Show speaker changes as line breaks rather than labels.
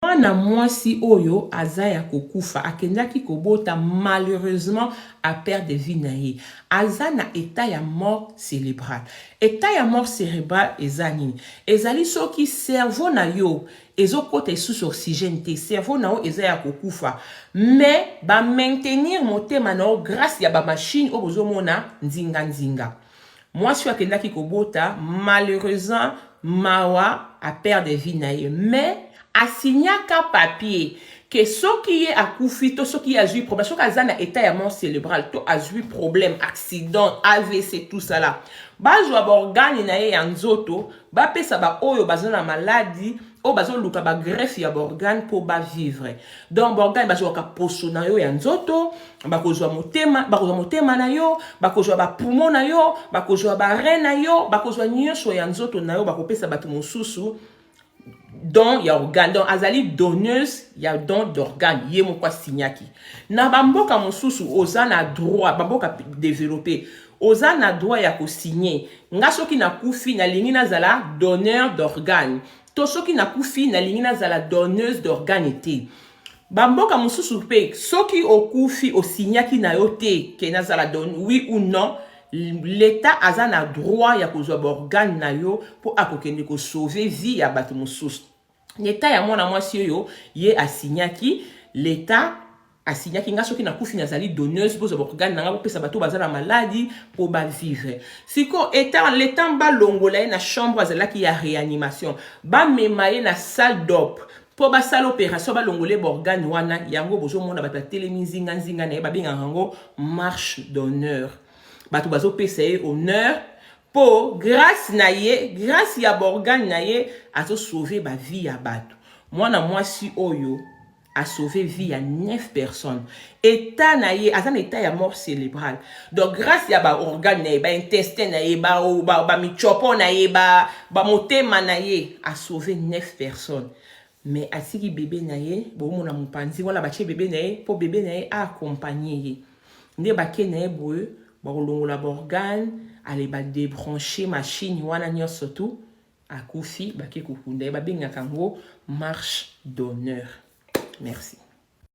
Mwana mwasi oyo aza ya kokufa akendaki kobota malheureusement a perdre vie na ye aza na etat ya mort celebral etat ya mort cerebral eza nini ezali soki cerveau na yo ezokota esusu oxygène te cerveau na yo eza ya kokufa mais ba maintenir motema na yo grace ya ba machine oyo bozomona nzinga nzinga Mwasi oyo akendaki kobota malheureusement mawa a perdre vie na ye mais asignaka papier ke soki ye akufi to soki ye azwi problème soki aza na état ya mort célébrale to azwi problème accident avc tout ça là bazwa baorgane na ye ya nzoto bapesa baoyo baza na maladi oyo bazoluka bagreffe ya borgane mpo bavivre donc borgane bazwaka poso na yo ya nzoto bakozwa motema bakozwa motema na yo bakozwa bapumo na yo bakozwa bare na yo bakozwa nyonso ya nzoto na yo bakopesa bato mosusu don ya organe donc azali donneuse ya don d'organe ye moko asignaki na bamboka mosusu oza na droit bamboka développe Oza na droit ya ko signer. Nga soki na kufi na lingi na zala donneur d'organe to soki na kufi na lingi na zala donneuse d'organe te. Ba mboka mususu pe soki okufi o signaki na yo te ke na zala don oui ou non l'etat aza na droit ya kozwa ba organe na yo po ako kende ko sauver vie ya batu mususu. leta ya mwana mwasi oyo ye asinyaki leta asinyaki nga soki nakufi nazali donneuse bozwa baorgane na nga bopesa bato baza na maladi mpo bavivre siko eta letan balongola ye na chambre azalaki ya réanimation bamema ye na salle dop mpo basala opération balongole baorgane wana yango bozomona bato batelemi nzinganzinga na ye babengaka yango marche d'honneur bato bazopesa ye honneur Po grace na ye, grace ya ba organes na ye azo sauver ba vie ya batu. Mwana mwasi oyo a sauver vie ya 9 personnes. Etat na ye, aza na etat ya mort cerebral. Donc grace ya ba organes na ye, ba intestins na ye, ba ba, ba mitshiopo na ye, ba ba motema na ye a sauver 9 personnes. mais atiki bebe na ye bomona mopanzi wana batie bebe na ye mpo bebe na ye aakompagne ye nde bake na ye boye bakolongola baorgane ale badebranche mashine wana nyonso tu akufi bake kokunda ye babengaka yango marche d'honneur merci